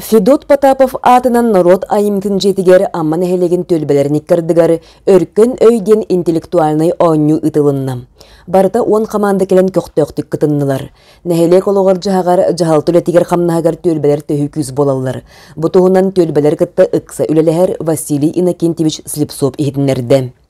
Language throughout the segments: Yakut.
Федот Потапов аатынан норуот айымньытын дьиэтигэр Амма нэһилиэгин түөлбэлэрин иккардыгар Өркөн өй диэн интеллектуальнай оонньуу ыытылынна. Барыта уон хамаанда кэлэн көхтөөхтүк кытыннылар. Нэһилиэк олоҕор-дьаһаҕар, дьаһалта үлэтигэр-хамнаһыгар түөлбэлэр төһүү күүс буолаллар. Бу туһунан түөлбэлэр кытта ыкса үлэлэһэр Василий Иннокентьевич Слепцов иһитиннэрдэ.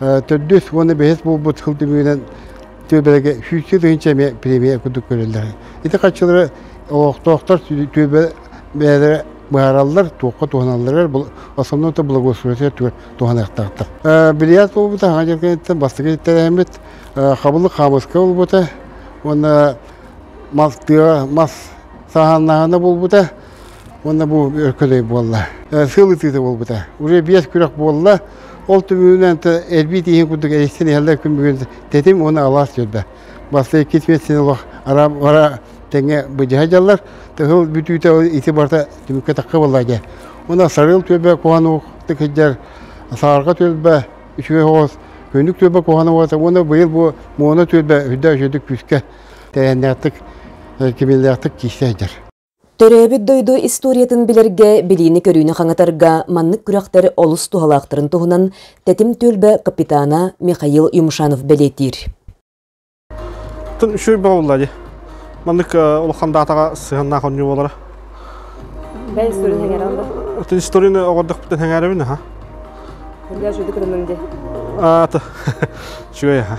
төрдүс уонна бэһис буолбут сыл түмүгүнэн түөбэлэргэ сүүсчэ тыһыынча эмиэ премия курдук көрөллөр. Ити харчылары олохтоохтор түөбэ бэйэлэрэ быһаараллар, туохха туһаналлар, основной благоустройство түгэр туһаныахтаахтар. Бильярд буолбута аҕа дьэргэниттэн бастакы тэрээмит, хабылык хаамыска буолбута уонна мас тыа мас сааһаннаһына буолбута. Уонна бу көлөй буолла. Сыл ытыыта буолбута. Уже биэс күрэх буолла. Ол түбүгүнэн элбиит иһин курдук эристен иһэллэр күн бүгүн тэтим уонна алаас жөрдө. Баста иккис метсин олох ара теңе быдьаһа жаллар. Тыһыл бүтүүтэ ити барта түмүккэ такка болла же. Уна сарыл төбө куанук тыкыжар саарга төбө үчүгө хоос күнүк төбө куана уата уона быйыл бу муона төбө үрдө өшөдүк күскэ тәйэннээктик кимиллээктик киистэһдер Төрөөбүт дойду историятын билэргэ, билиини-көрүүнү хаҥатарга маннык күрэхтэр олус туһалаахтарын туһунан Тэтим түөлбэ капитана Михаил Юмшанов бэлиэтиир. Үчүгэй буолла ди. Маннык улахан даатаҕа сыһаннаах онньу болара. Бэл сүрүн хәңәралла. Отын историяны оғырдықпытын хәңәребін, аха. Для жүдік рынымде. Ата. Чүгэй, аха.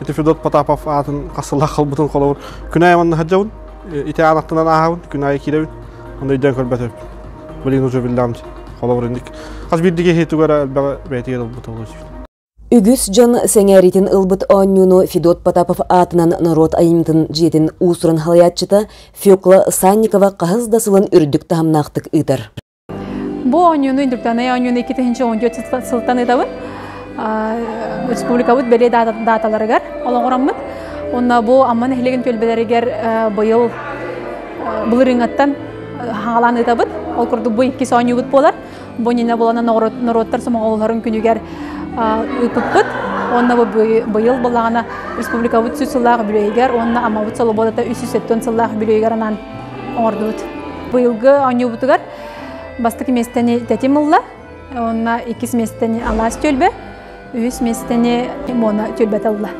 Ити Федот Потапов аатын хас сыллаах халбытын холобур күн аайы манна сылдьабын, ити аан аттынан ааһабын, күн аайы киирэбин, аны өйдөөн көрбөтөбүн. Блин уже биллаамт холобур инник. Хас биирдиги хиитугара элбэҕи бэйэтигэр ылбыт олус. Үгүс дьон сэҥээриитин ылбыт оонньууну Федот Потапов аатынан норуот айымньытын дьиэтин уусурун халайааччыта Фёкла Санникова хаһыс да сылын үрдүк таһымнаахтык ыытар. Бу оонньууну Индиктанай оонньууну иккитинчи он төрт сылтан ыытабын республикабыт бэлиэ дааталарыгар олоҕураммыт уонна бу Амма нэһилигин түөлбэлэригэр быйыл былырыыҥҥаттан хаҥалаан ыытабыт ол курдук бу иккис оонньуубут буолар бу иннинэ булана норуоттар сомоҕолоһорун күнүгэр ыыппыппыт уонна бу быйыл былаана республикабыт үс сыллаах үбүлүөйүгэр уонна Аммабыт солобуодата үс сүүс сэттэ сыллаах үбүлүөйүгэр анаан оҥордубут. Быйылгы оонньуубутугар бастакы миэстэни тэтим ылла. Уонна иккис миэстэни алаас түөлбэ, үһүс миэстэни Мона түөлбэтэ ылла.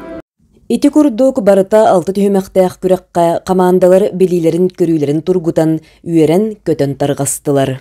Ити курдук барыта алта түһүмэхтээх күрэххэ хамаандалар билиилэрин-көрүүлэрин тургутан, үөрэн-көтөн тарҕастылар.